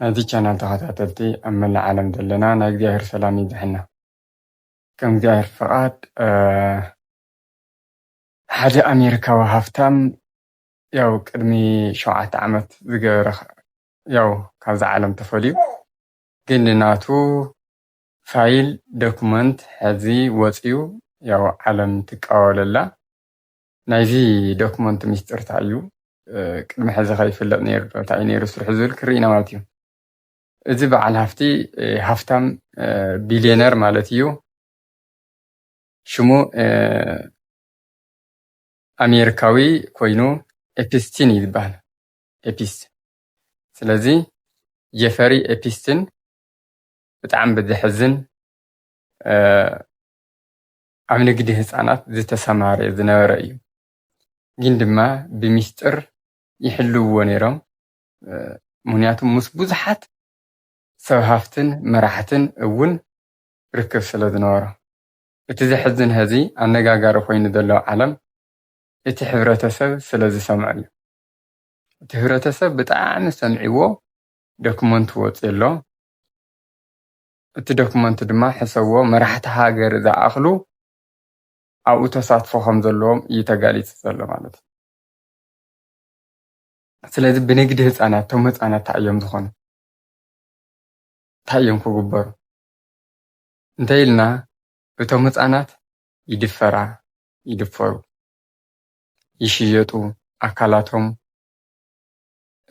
ናይዚ ቻናል ተኸታተልቲ ኣብ መላእ ዓለም ዘለና ናይ እግዚኣብሔር ሰላም ይብዝሐና ከም እግዚኣብሔር ፍቃድ ሓደ ኣሜሪካዊ ሃፍታም ያው ቅድሚ ሸውዓተ ዓመት ዝገበረ ያው ካብዛ ዓለም ተፈልዩ ግን ናቱ ፋይል ዶክመንት ሕዚ ወፅዩ ያው ዓለም ትቃወለላ ናይዚ ዶክመንት ሚስጥር ታይ እዩ ቅድሚ ሕዚ ከ ይፍለጥ ነይሩ ዶ ታይ እዩ ነይሩ ስርሑ ዝብል ክርኢ ኢና ማለት እዩ እዚ በዓል ሃፍቲ ሃፍታም ቢልየነር ማለት እዩ ሽሙ ኣሜሪካዊ ኮይኑ ኤፒስቲን እዩ ዝበሃል ኤፒስ ስለዚ ጀፈሪ ኤፒስቲን ብጣዕሚ ብዘሕዝን ኣብ ንግዲ ህጻናት ዝተሰማረየ ዝነበረ እዩ። ግን ድማ ብሚስጥር ይሕልውዎ ነይሮም ምኽንያቱ ምስ ብዙሓት ሰብ ሃፍትን መራሕትን እውን ርክብ ስለ ዝነበሮ። እቲ ዘሕዝን ሀዚ ኣነጋጋሪ ኮይኑ ዘሎ ዓለም እቲ ሕብረተሰብ ስለ ዝሰምዖ እዩ። እቲ ህብረተሰብ ብጣዕሚ ሰምዒዎ ደክሞንት ወጽዮ ኣሎ። እቲ ዶክመንት ድማ ሕሰብዎ መራሕቲ ሃገር ዝኣኽሉ ኣብኡ ተሳትፎ ከም ዘለዎም እዩ ተጋሊፁ ዘሎ ማለት እዩ። ስለዚ ብንግዲ ህፃናት እቶም ህፃናት እንታይ እዮም ዝኾኑ እንታይ እዮም ክግበሩ እንተይልና እቶም ህፃናት ይድፈራ ይድፈሩ ይሽየጡ ኣካላቶም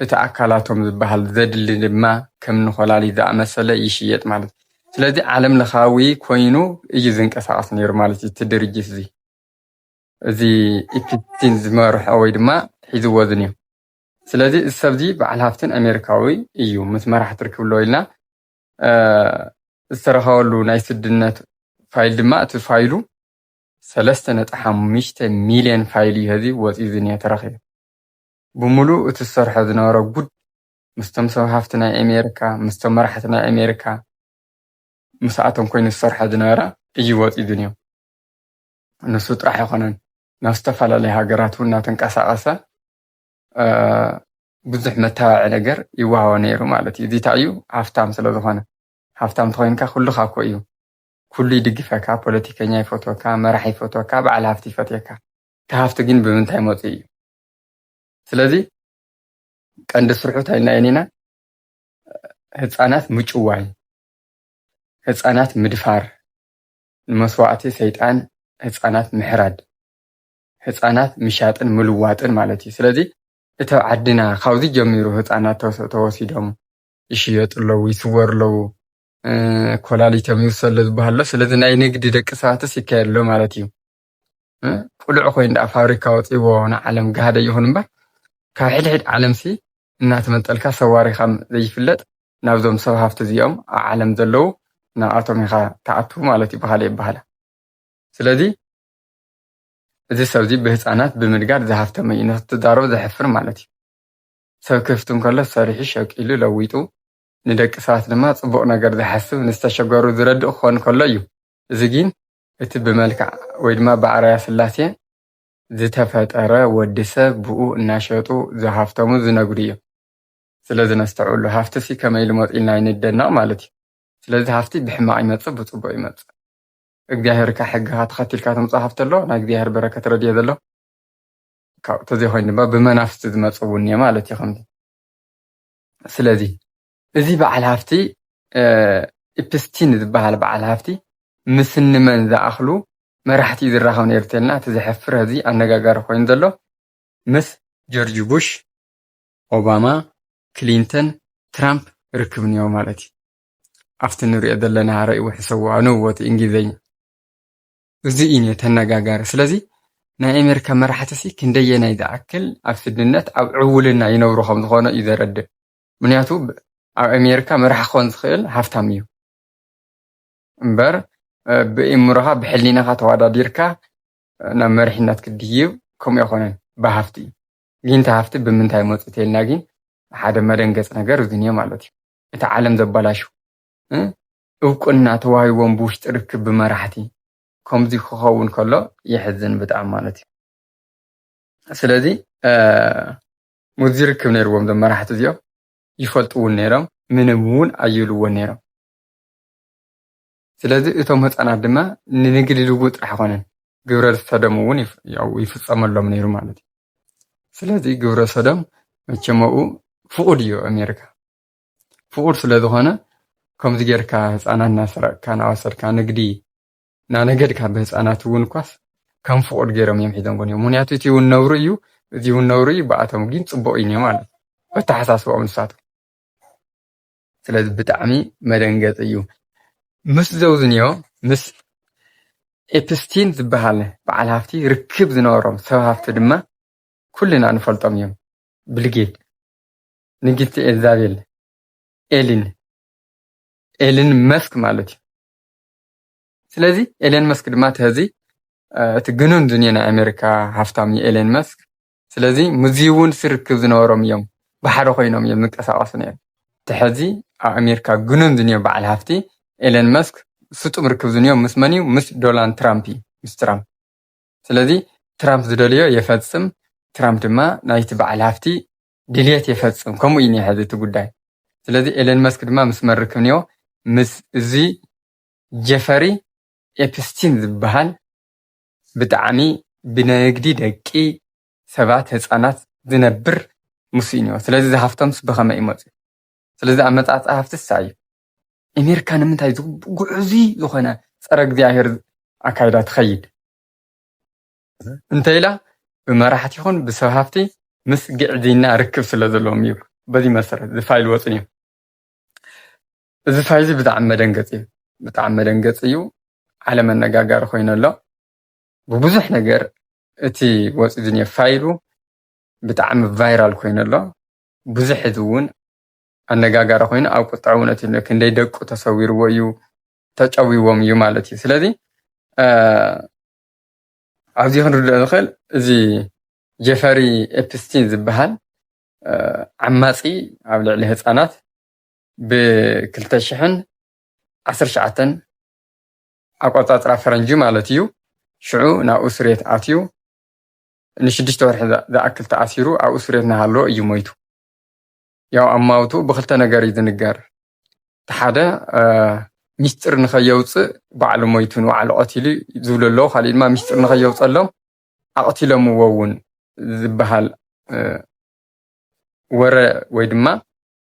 እቲ ኣካላቶም ዝበሃል ዘድሊ ድማ ከም ንኮላሊት ዝኣመሰለ ይሽየጥ ማለት እዩ። ስለዚ ዓለም ለኻዊ ኮይኑ እዩ ዝንቀሳቐስ ነይሩ ማለት እዩ እቲ ድርጅት እዚ እዚ ኢፕስቲን ዝመርሖ ወይ ድማ ሒዝዎ ዝንዮ ስለዚ እዚ ሰብ እዚ በዓል ሃፍትን ኣሜሪካዊ እዩ ምስ መራሕቲ ርክብ ኣለዎ ኢልና ዝተረኸበሉ ናይ ስድነት ፋይል ድማ እቲ ፋይሉ ሰለስተ ነጥቢ ሓሙሽተ ሚልዮን ፋይል እዩ ሀዚ ወፂኡ ዝኒሀ ተረኺቡ ብምሉኡ እቲ ዝሰርሖ ዝነበረ ጉድ ምስቶም ሰብ ሃፍቲ ናይ ኣሜሪካ ምስቶም መራሕቲ ናይ ኣሜሪካ ምስኣቶም ኮይኑ ዝሰርሖ ዝነበረ እዩ ወፂኡ ዝንዮ። ንሱ ጥራሕ ኣይኮነን ናብ ዝተፈላለዩ ሃገራት እውን እናተንቀሳቐሰ ብዙሕ መታባዕዒ ነገር ይወሃቦ ነይሩ ማለት እዩ። እዚታ እዩ ሃፍታም ስለ ዝኾነ ሃፍታም ተኮይንካ ኩሉካ እኮ እዩ ኩሉ ይድግፈካ፣ ፖለቲከኛ ይፈትወካ፣ መራሕ ይፈትወካ፣ በዓል ሃፍቲ ይፈትየካ። እቲ ሃፍቲ ግን ብምንታይ መፁ እዩ? ስለዚ ቀንዲ ስርሑ እንታይ ናይ ኒና ህፃናት ምጭዋይ ህፃናት ምድፋር ንመስዋእቲ ሰይጣን ህፃናት ምሕራድ ህፃናት ምሻጥን ምልዋጥን ማለት እዩ ስለዚ እቲ ኣብ ዓድና ካብዚ ጀሚሩ ህፃናት ተወሲዶም ይሽየጡ ኣለዉ ይስወሩ ኣለዉ ኮላሊቶም ይውሰሉ ዝበሃሎ ስለዚ ናይ ንግዲ ደቂ ሰባትስ ይካየድ ኣሎ ማለት እዩ ቁልዕ ኮይኑ ደኣ ፋብሪካ ወፂዎ ንዓለም ጋህደ ይኹን እምበር ካብ ሕድሕድ ዓለምሲ እናተመንጠልካ ሰዋሪኻ ዘይፍለጥ ናብዞም ሰብ ሃፍቲ እዚኦም ኣብ ዓለም ዘለዉ ንኣቶም ኢኻ ትኣቱ ማለት እዩ ብካልእ ይበሃላ ስለዚ እዚ ሰብ እዚ ብህፃናት ብምድጋር ዝሃፍተመ እዩ ንክትዛረቡ ዘሕፍር ማለት እዩ ሰብ ክህፍቲ እንከሎ ሰሪሑ ሸቂሉ ለዊጡ ንደቂ ሰባት ድማ ፅቡቕ ነገር ዝሓስብ ንዝተሸገሩ ዝረድእ ክኾን ከሎ እዩ እዚ ግን እቲ ብመልክዕ ወይ ድማ ብኣርኣያ ስላሴ ዝተፈጠረ ወዲ ሰብ ብኡ እናሸጡ ዝሃፍተሙ ዝነግዱ እዮም። ስለዚ ነስተውዕሉ ሃፍቲሲ ከመይ ኢሉ መፂኡ ኢልና ኣይንደነቕ ማለት እዩ። ስለዚ ሃፍቲ ብሕማቕ ይመፅእ ብፅቡቕ ይመፅእ። እግዚኣብሔር እካ ሕግኻ ተኸቲልካ ተምፅኦ ሃፍቲ ኣሎ ናይ እግዚኣብሔር በረከት ረድኤት ዘሎ ካብኡ ተዘይኮይኑ ድማ ብመናፍስቲ ዝመፅእ እውን እኒኦ ማለት እዩ ከምዚ ስለዚ እዚ በዓል ሃፍቲ ኢፕስቲን ዝበሃል በዓል ሃፍቲ ምስ እንመን ዝኣኽሉ መራሕቲ እዩ ዝራኸብ ነይሩ ተልና እቲ ዘሕፍር ሐዚ ኣነጋጋሪ ኮይኑ ዘሎ ምስ ጆርጅ ቡሽ፣ ኦባማ፣ ክሊንተን፣ ትራምፕ ርክብ እኒኦ ማለት እዩ። ኣብቲ ንሪኦ ዘለና ረእይ ውሕሰዎ ኣንብቦ እቲ እንግሊዘኛ እዚ እዩ ነቲ ኣነጋጋሪ ስለዚ ናይ ኣሜሪካ መራሕቲ ሲ ክንደየናይ ዝኣክል ኣብ ስድነት ኣብ ዕውልና ይነብሩ ከም ዝኾነ እዩ ዘረድእ ምክንያቱ ኣብ ኣሜሪካ መራሒ ክኾን ዝኽእል ሃፍታም እዩ እምበር ብእምሮኻ ብሕሊናኻ ተወዳዲርካ ናብ መሪሕነት ክድይብ ከምኡ ኣይኮነን ብሃፍቲ እዩ ጊንታ ሃፍቲ ብምንታይ መፁ ተልና ግን ሓደ መደንገፅ ነገር እዚ እኒኦ ማለት እዩ እቲ ዓለም ዘበላሹ እውቅና ተዋሂቦም ብውሽጢ ርክብ ብመራሕቲ ከምዚ ክኸውን ከሎ የሕዝን ብጣዕሚ ማለት እዩ። ስለዚ ሙዚ ርክብ ነይርዎም ዞም መራሕቲ እዚኦም ይፈልጥውን ነይሮም ምንም እውን ኣይብልዎን ነይሮም ስለዚ እቶም ህፃናት ድማ ንንግዲ ልውጥ ጥራሕ ኣይኮነን ግብረ ሰዶም እውን ይፍፀመሎም ነይሩ ማለት እዩ። ስለዚ ግብረ ሰዶም መቸመኡ ፍቑድ እዩ ኣሜሪካ ፍቑድ ስለዝኾነ ከምዚ ጌርካ ህፃናት እናሰረቅካ እናወሰድካ ንግዲ ናነገድ ካብ ህፃናት እውን እኳስ ከም ፍቑድ ገይሮም እዮም ሒዞምዎ እዮም ምክንያቱ እቲ እውን ነብሩ እዩ እዚ እውን ነብሩ እዩ ብኣቶም ግን ፅቡቕ እዩ ማለት እዩ ኣተሓሳስባኦም ንሳቶም ስለዚ ብጣዕሚ መደንገፂ እዩ ምስ ዘውዝንዮ ምስ ኤፕስቲን ዝበሃል በዓል ሃፍቲ ርክብ ዝነበሮም ሰብ ሃፍቲ ድማ ኩልና ንፈልጦም እዮም ብልጌት ንግስቲ ኤልዛቤል ኤሊን ኤሊን መስክ ማለት እዩ ስለዚ ኤለን መስክ ድማ ተዚ እቲ ግኑን ዱንየ ናይ ኣሜሪካ ሃፍታም እዩ ኤለን መስክ። ስለዚ ምዚ እውን ስርክብ ዝነበሮም እዮም ባሕሪ ኮይኖም እዮም ዝንቀሳቀሱ ነይሩ። ተሐዚ ኣብ ኣሜሪካ ግኑን ዱንየ በዓል ሃፍቲ ኤለን መስክ ስጡም ርክብ ዝንዮ ምስ መን እዩ? ምስ ዶናልድ ትራምፕ እዩ፣ ምስ ትራምፕ። ስለዚ ትራምፕ ዝደልዮ የፈጽም፣ ትራምፕ ድማ ናይቲ በዓል ሃፍቲ ድልየት የፈጽም ከምኡ እዩ ኒሀ እቲ ጉዳይ ስለዚ ኤለን መስክ ድማ ምስ መን ርክብ ኒኦ ምስ እዚ ጀፈሪ ኤፕስቲን ዝብሃል ብጣዕሚ ብነግዲ ደቂ ሰባት ህጻናት ዝነብር ምሱ እዩ ኒኦ ስለዚ እዚ ሃፍቶምስ ብከመይ እዩ መጽዩ ስለዚ ኣመጻጽኣ ሃፍቲ እሳ እዩ ኤሜርካ ንምንታይ እዚ ጉዑዙይ ዝኮነ ጸረ እግዚኣብሄር ኣካይዳ ትከይድ። እንተኢላ ብመራሕቲ ይኹን ብሰብ ሃፍቲ ምስ ግዕዝይና ርክብ ስለ ዘለዎም ይብሉ። በዚ መሰረት እዚ ፋይል ወፅን እዩ። እዚ ፋይል እዚ ብጣዕሚ መደንገፂ እዩ። ብጣዕሚ መደንገፂ እዩ። ዓለም ኣነጋጋሪ ኮይኑ ኣሎ። ብብዙሕ ነገር እቲ ወፂኡ ዝኒኦ ፋይሉ ብጣዕሚ ቫይራል ኮይኑ ኣሎ። ብዙሕ ህዝቢ እውን ኣነጋጋሪ ኮይኑ ኣብ ቁጥዐ እውን እቲ ክንደይ ደቁ ተሰዊርዎ እዩ ተጨዊዎም እዩ ማለት እዩ። ስለዚ ኣብዚ ክንርድኦ ንኽእል እዚ ጀፈሪ ኤፕስቲን ዝበሃል ዓማፂ ኣብ ልዕሊ ህፃናት ብክልተ ሽሕን ዓሰርተ ትሽዓተን ኣቆፃፅራ ፈረንጂ ማለት እዩ ሽዑ ናብ እሱሬት ኣትዩ ንሽዱሽተ ወርሒ ዝኣክል ተኣሲሩ ኣብ እሱሬት እናሃለወ እዩ ሞይቱ። ያው ኣማውትኡ ብክልተ ነገር እዩ ዝንገር እቲ ሓደ ሚስጢር ንኸየውፅእ ባዕሉ ሞይቱ ንባዕሉ ቀቲሉ ዝብሉ ኣለዉ ካሊእ ድማ ሚስጢር ንኸየውፀሎም ኣቕቲሎምዎ እውን ዝበሃል ወረ ወይ ድማ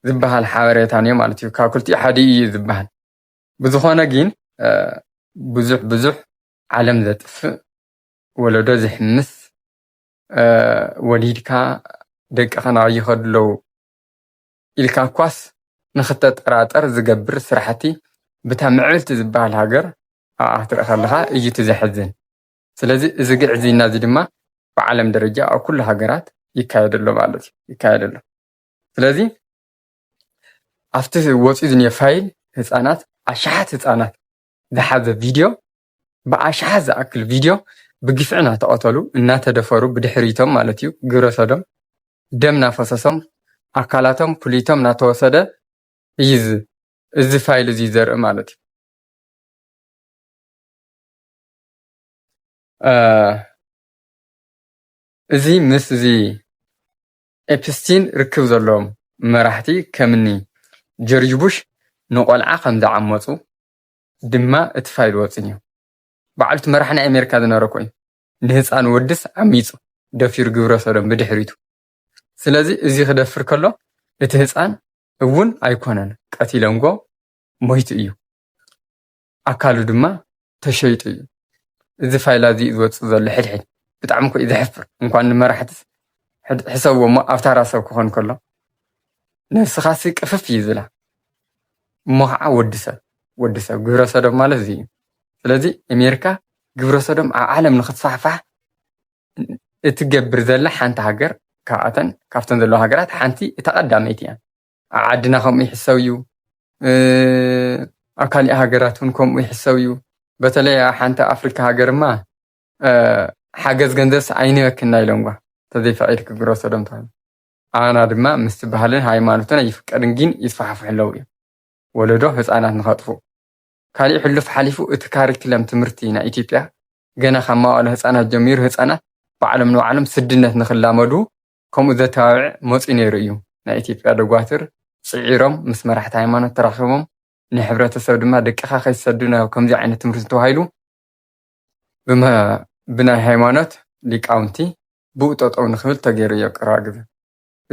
ዝበሃል ሓበሬታ እዮ ማለት እዩ ካብ ክልቲኡ ሓደ እዩ ዝበሃል ብዝኾነ ግን ብዙሕ ብዙሕ ዓለም ዘጥፍእ ወለዶ ዝሕምስ ወሊድካ ደቅኻ ናበይ ይኸዱ ኣለዉ ኢልካ እኳስ ንኽትጠራጠር ዝገብር ስራሕቲ ብታ ምዕብልቲ ዝበሃል ሃገር ኣብኣ ክትርኢ ከለኻ እዩ እቲ ዘሕዝን። ስለዚ እዚ ግዕዝይና እዚ ድማ ብዓለም ደረጃ ኣብ ኩሉ ሃገራት ይካየድ ኣሎ ማለት እዩ ይካየድ ኣሎ። ስለዚ ኣብቲ ወፂኡ ዝኒሀ ፋይል ህፃናት ኣሽሓት ህፃናት ዝሓዘ ቪድዮ ብኣሽሓት ዝኣክል ቪድዮ ብግፍዒ ናተቐተሉ፣ እናተደፈሩ ብድሕሪቶም ማለት እዩ ግብረሶዶም ደም ናፈሰሶም ኣካላቶም ኩሊቶም ናተወሰደ እዩ እዚ ፋይል እዙይ ዘርኢ ማለት እዩ። እዚ ምስ እዚ ኤፕስቲን ርክብ ዘለዎም መራሕቲ ከምኒ ጆርጅ ቡሽ ንቆልዓ ከም ዝዓመፁ ድማ እቲ ፋይል ወጽኙ። ባዕሉ እቲ መራሒ ናይ ኣሜሪካ ዝነበረ ኮይኑ ንህጻን ወድስ ዓሚጹ ደፊሩ ግብረ ሰዶም ብድሕሪቱ ስለዚ እዚ ክደፍር ከሎ እቲ ህጻን እውን ኣይኮነን ቀቲለንጎ ሞይቱ እዩ ኣካሉ ድማ ተሸይጡ እዩ እዚ ፋይላ እዚ ዝወጽእ ዘሎ ሕድሕድ ብጣዕሚ ኮዩ ዘሕፍር እንኳን ንመራሕትስ ሕሰብዎ እሞ ኣብ ታራ ሰብ ክኾን ከሎ ነብስኻሲ ቅፍፍ እዩ ዝብላ እሞ ከዓ ወዲ ሰብ ወድሰብ ግብረሰዶም ማለት እዚ እዩ። ስለዚ ኣሜሪካ ግብረሰዶም ኣብ ዓለም ንኽስፋሕፋሕ እትገብር ዘላ ሓንቲ ሃገር ካብኣተን ካብተን ዘለዋ ሃገራት ሓንቲ እታ ቀዳመይቲ እያ። ኣብ ዓድና ከምኡ ይሕሰብ እዩ፣ ኣብ ካሊእ ሃገራት እውን ከምኡ ይሕሰብ እዩ። በተለይ ኣብ ሓንቲ ኣፍሪካ ሃገርማ ሓገዝ ገንዘብስ ኣይንበክና ኢሎምዋ ተዘይፈቒድኪ ግብረሰዶም ተባሂሉ። ኣና ድማ ምስቲ ባህልን ሃይማኖትን ኣይፍቀድን ግን ይስፋሕፍሑ ኣለዉ እዮም። ወለዶ ህጻናት ንኸጥፍኡ። ካሊእ ሕሉፍ ሓሊፉ እቲ ካሪክለም ትምህርቲ ናይ ኢትዮጵያ ገና ካብ መዋእለ ህጻናት ጀሚሩ ህጻናት ባዕሎም ንባዕሎም ስድነት ንኽላመዱ ከምኡ ዘተባብዕ መጽዩ ነይሩ እዩ። ናይ ኢትዮጵያ ደጓትር ጽዒሮም ምስ መራሕቲ ሃይማኖት ተራኺቦም ንሕብረተሰብ ድማ ደቅኻ ከይትሰዱ ናብ ከምዚ ዓይነት ትምህርቲ ተባሂሉ ብናይ ሃይማኖት ሊቃውንቲ ብኡ ጠጠው ንኽብል ተገይሩ እዩ ኣብ ቀረባ ግዘ።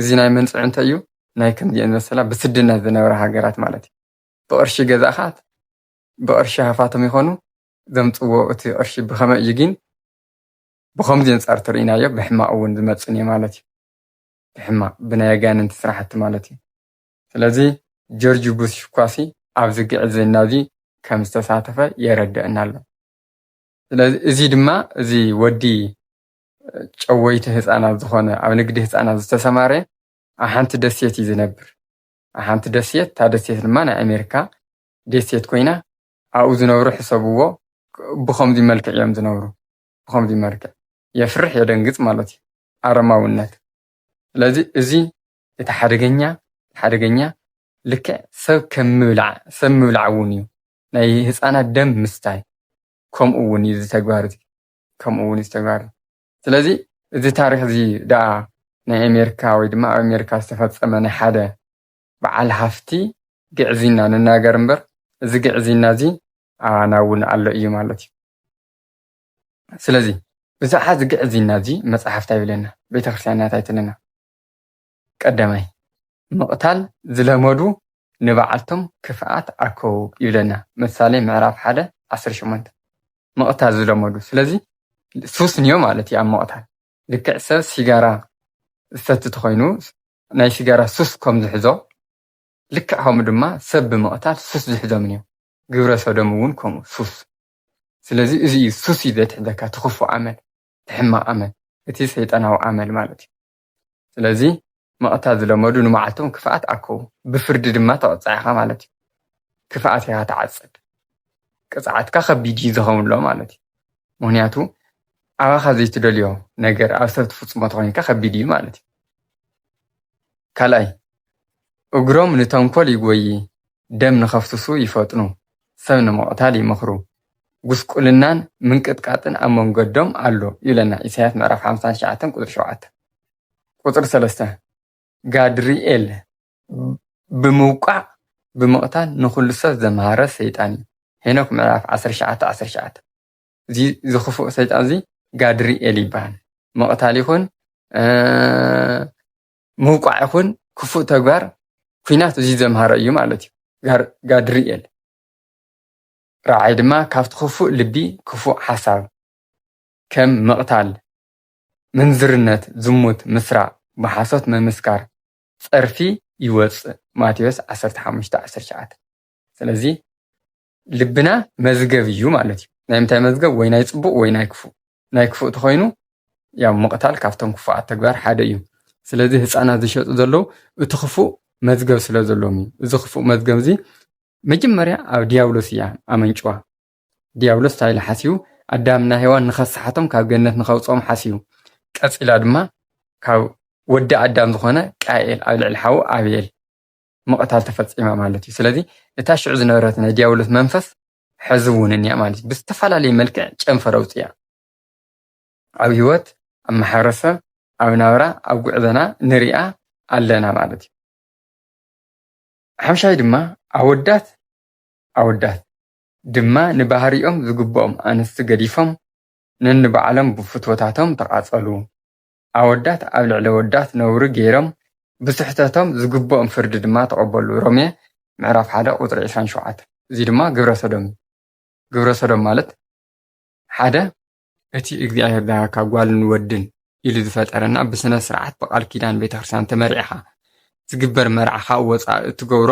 እዚ ናይ መንፅዕ እንታይ እዩ ናይ ከምዚኤን መሰላ ብስድነት ዝነብራ ሃገራት ማለት እዩ ብቅርሺ ገዛእኻት ብቅርሺ ሃፋቶም ይኾኑ ዘምፅዎ እቲ ቅርሺ ብኸመ እዩ ግን ብኸምዚ ኣንፃር ተርእናዮ ብሕማቅ እውን ዝመፅን እዩ ማለት እዩ ብሕማቅ ብናይ ኣጋንንቲ ስራሕቲ ማለት እዩ ስለዚ ጆርጅ ቡሽ ኳሲ ኣብዚ ግዕዝና እዚ ከም ዝተሳተፈ የረደአና ኣሎ ስለዚ እዚ ድማ እዚ ወዲ ጨወይቲ ህፃናት ዝኾነ ኣብ ንግዲ ህፃናት ዝተሰማረ ኣብ ሓንቲ ደሴት እዩ ዝነብር። ኣብ ሓንቲ ደሴት እታ ደሴት ድማ ናይ ኣሜሪካ ደሴት ኮይና ኣብኡ ዝነብሩ ሕሰብዎ ብኸምዚ መልክዕ እዮም ዝነብሩ። ብኸምዚ መልክዕ የፍርሕ የደንግፅ ማለት እዩ ኣረማውነት። ስለዚ እዚ እቲ ሓደገኛ ሓደገኛ ልክዕ ሰብ ከም ምብላዕ ሰብ ምብላዕ እውን እዩ ናይ ህፃናት ደም ምስታይ ከምኡ እውን እዩ እዚ ተግባር እዚ ከምኡ እውን እዚ ተግባር እዩ። ስለዚ እዚ ታሪኽ እዚ ደኣ ናይ ኣሜሪካ ወይ ድማ ኣብ ኣሜሪካ ዝተፈጸመ ናይ ሓደ በዓል ሃፍቲ ግዕዝይና ንናገር እምበር እዚ ግዕዝይና እዚ ኣባና እውን ኣሎ እዩ ማለት እዩ። ስለዚ ብዛዕባ እዚ ግዕዝይና እዚ መጽሓፍ እንታይ ይብለና? ቤተ ክርስቲያንና እንታይ ትብለና? ቀዳማይ፣ ምቕታል ዝለመዱ ንባዓልቶም ክፍኣት ኣርከቡ ይብለና ምሳሌ ምዕራፍ ሓደ ዓሰርተ ሸሞንተ። ምቕታል ዝለመዱ ስለዚ ሱስ እንዮ ማለት እዩ ኣብ ምቕታል። ልክዕ ሰብ ሲጋራ ዝሰቲ ተኾይኑ ናይ ሲጋራ ሱስ ከም ዝሕዞ ልክዕ ከምኡ ድማ ሰብ ብምቕታል ሱስ ዝሕዞም እንዮ። ግብረ ሰዶም እውን ከምኡ ሱስ። ስለዚ እዚ እዩ ሱስ እዩ ዘትሕዘካ እቲ ክፉእ ኣመል፣ እቲ ሕማቕ ኣመል፣ እቲ ሰይጣናዊ ኣመል ማለት እዩ። ስለዚ መቕታ ዝለመዱ ንመዓልቶም ክፍኣት ኣከዉ ብፍርዲ ድማ ትቕጻዕ ኢኻ ማለት እዩ። ክፍኣት ኢኻ ትዓጽድ። ቅጽዓትካ ከቢድ እዩ ዝኸውንሎ ማለት እዩ። ምክንያቱ ኣባኻ ዘይትደልዮ ነገር ኣብ ሰብ ትፍጽሞ ተኾይንካ ከቢድ እዩ ማለት እዩ። ካልኣይ እግሮም ንተንኮል ይጎዪ ደም ንኸፍስሱ ይፈጥኑ ሰብ ንምቕታል ይመኽሩ ጉስቁልናን ምንቅጥቃጥን ኣብ መንገዶም ኣሎ ይብለና ኢሳያስ ምዕራፍ ሓምሳን ትሽዓተን ቁጽሪ ሸውዓተ። ቁጽሪ ሰለስተ ጋድርኤል ብምውቃዕ ብምቕታል ንኹሉ ሰብ ዘምሃረ ሰይጣን እዩ ሄኖክ ምዕራፍ ዓሰርተ ትሽዓተ ዓሰርተ ትሽዓተ። እዚ ዝኽፉእ ሰይጣን እዚ ጋድርኤል ይበሃል ምቕታል ይኹን ምውቃዕ ይኹን ክፉእ ተግባር ኩናት እዚ ዘምሃረ እዩ ማለት እዩ ጋድርኤል ራዕይ ድማ ካብቲ ክፉእ ልቢ ክፉእ ሓሳብ ከም ምቕታል፣ ምንዝርነት፣ ዝሙት፣ ምስራቕ፣ ብሓሶት ምምስካር፣ ጸርፊ ይወጽእ፣ ማቴዎስ ዓሰርተ ሓሙሽተ ዓሰርተ ትሽዓተ። ስለዚ ልብና መዝገብ እዩ ማለት እዩ። ናይ ምንታይ መዝገብ ወይ ናይ ጽቡቕ ወይ ናይ ክፉእ። ናይ ክፉእ ተኾይኑ ያው ምቕታል ካብቶም ክፉኣት ተግባር ሓደ እዩ። ስለዚ ህፃናት ዝሸጡ ዘለዉ እቲ ክፉእ መዝገብ ስለ ዘለዎም እዩ። እዚ ክፉእ መዝገብ እዚ መጀመርያ ኣብ ዲያብሎስ እያ ኣመንጭዋ። ዲያብሎስ እንታይ ኢሉ ሓሲቡ ኣዳምና ሄዋን ንኸሰሓቶም ካብ ገነት ንኸውፅኦም ሓሲቡ። ቀፂላ ድማ ካብ ወዲ ኣዳም ዝኾነ ቃኤል ኣብ ልዕሊ ሓዉ ኣብኤል ምቕታል ተፈፂማ ማለት እዩ። ስለዚ እታ ሽዑ ዝነበረት ናይ ዲያብሎስ መንፈስ ሐዚ እውን እኒኣ ማለት ብዝተፈላለየ መልክዕ ጨንፈር ኣውፂኣ ኣብ ህይወት ኣብ ማሕበረሰብ ኣብ ናብራ ኣብ ጉዕዘና ንሪኣ ኣለና ማለት እዩ ሓምሻይ ድማ ኣወዳት ኣወዳት ድማ ንባህሪኦም ዝግብኦም ኣንስቲ ገዲፎም ነንባዕሎም ብፍትወታቶም ተቓፀሉ ኣወዳት ኣብ ልዕሊ ኣወዳት ነውሪ ገይሮም ብስሕተቶም ዝግብኦም ፍርዲ ድማ ተቐበሉ፣ ሮሜ ምዕራፍ ሓደ ቁጽሪ ዕስራን ሸውዓተን፣ እዚ ድማ ግብረ ሰዶም እዩ፣ ግብረ ሰዶም ማለት ሓደ፣ እቲ እግዚኣብሔር ዝሃበካ ጓልን ወድን ኢሉ ዝፈጠረና ብስነ ስርዓት ብቃል ኪዳን ቤተ ክርስቲያን ተመሪዕኻ ዝግበር መርዓ ካብ ወጻኢ እትገብሮ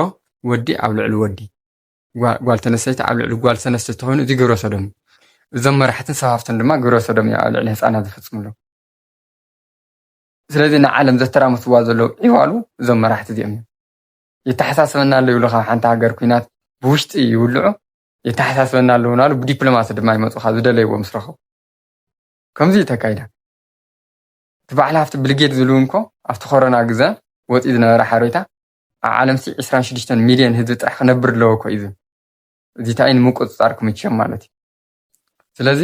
ወዲ ኣብ ልዕሊ ወዲ፣ ጓል ተነሰይቲ ኣብ ልዕሊ ጓል ሰነስቲ ተኾይኑ እዚ ግብረ ሰዶም እዩ። እዞም መራሕትን ሰፋፍትን ድማ ግብረ ሰዶም እዮም ኣብ ልዕሊ ህፃናት ዝፍፅምሉ። ስለዚ ንዓለም ዘተራምስዋ ዘለዉ ዒዋሉ እዞም መራሕቲ እዚኦም እዮም። የተሓሳስበና ኣሎ ይብሉ ካብ ሓንቲ ሃገር ኩናት ብውሽጢ ይውልዑ የተሓሳስበና ኣለዉ ናሉ ብዲፕሎማሲ ድማ ይመፁ ካብ ዝደለይዎ ምስ ረኸቡ ከምዚ እዩ ተካይዳ እቲ በዓል ሃፍቲ ብልጌድ ዝብሉ እንኮ ኣብቲ ኮሮና ግዘ ወፂኡ ዝነበረ ሓሬታ ኣብ ዓለም ሲ ዕስራን ሽዱሽተን ሚልዮን ህዝቢ ጥራሕ ክነብር ኣለዎ እኮ እዩ ዝብል እዚ እንታይ እዩ ንምቁፅፃር ክምችዮም ማለት እዩ ስለዚ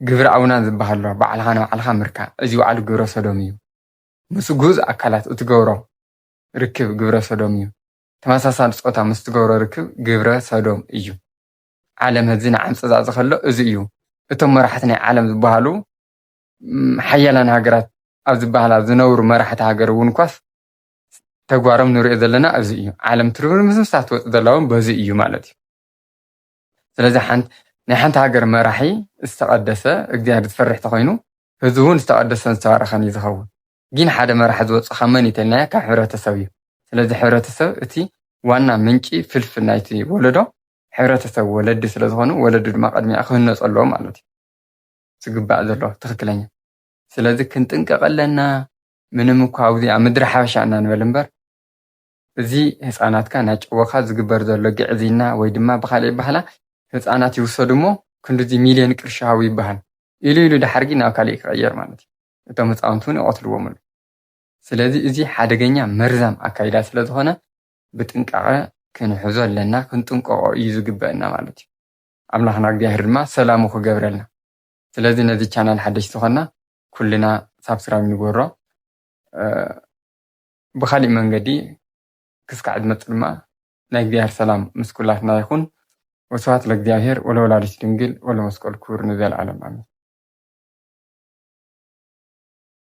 ግብረ ኣውናን ዝበሃል ኣሎ ባዕልኻ ንባዕልኻ ምርካብ እዚ ባዕሉ ግብረ ሰዶም እዩ ምስ ግኡዝ ኣካላት እትገብሮ ርክብ ግብረ ሰዶም እዩ ተመሳሳሊ ፆታ ምስ ትገብሮ ርክብ ግብረ ሰዶም እዩ ዓለም ህዚ ንዓምፂ ዝኣዘ ከሎ እዚ እዩ እቶም መራሕቲ ናይ ዓለም ዝበሃሉ ሓያላን ሃገራት ኣብ ዝበሃላ ዝነብሩ መራሕቲ ሃገር እውን እኳስ ተግባሮም ንሪኦ ዘለና ኣብዚ እዩ ዓለም ትርምርምስ ምስታ ትወፅእ ዘላ እውን በዚ እዩ ማለት እዩ ስለዚ ናይ ሓንቲ ሃገር መራሒ ዝተቐደሰ እግዚኣብሔር ዝፈርሕ ተኾይኑ ህዝቢ እውን ዝተቐደሰን ዝተባረኸን እዩ ዝኸውን ግን ሓደ መራሒ ዝወፅእ ካብ መን ይተልናዮ ካብ ሕብረተሰብ እዩ ስለዚ ሕብረተሰብ እቲ ዋና ምንጪ ፍልፍል ናይቲ ወለዶ ሕብረተሰብ ወለዲ ስለዝኾኑ ወለዲ ድማ ቅድሚያ ክህነፁ ኣለዎ ማለት እዩ ዝግባእ ዘሎ ትኽክለኛ ስለዚ ክንጥንቀቐ ኣለና ምንም እኳ ኣብዚ ኣብ ምድሪ ሓበሻ እና ንበል እምበር እዚ ህፃናትካ ናጨወኻ ዝግበር ዘሎ ግዕዝይና ወይ ድማ ብኻሊእ ኣባህላ ህፃናት ይውሰዱ እሞ ክንድዚ ሚልዮን ቅርሺ ሃቡ ይባሃል ኢሉ ኢሉ ዳሓርጊ ናብ ካሊእ ክቕየር ማለት እዩ እቶም ህፃውንቲ እውን ይቐትልዎም ኣሉ ስለዚ እዚ ሓደገኛ መርዛም ኣካይዳ ስለ ዝኾነ ብጥንቃቐ ክንሕዞ ኣለና ክንጥንቀቖ እዩ ዝግበእና ማለት እዩ ኣምላኽና እግዚኣብሔር ድማ ሰላሙ ክገብረልና ስለዚ ነዚ ቻናል ሓደሽቲ ዝኾና ኩልና ሳብስራይብ ንግበሮ ብካሊእ መንገዲ ክስካዕ ዝመጽእ ድማ ናይ እግዚኣብሔር ሰላም ምስ ኩላትና ይኩን ወስብሐት ለእግዚኣብሔር ወለወላዲቱ ድንግል ወለመስቀሉ ክቡር ንዘለዓለም ኣሜን።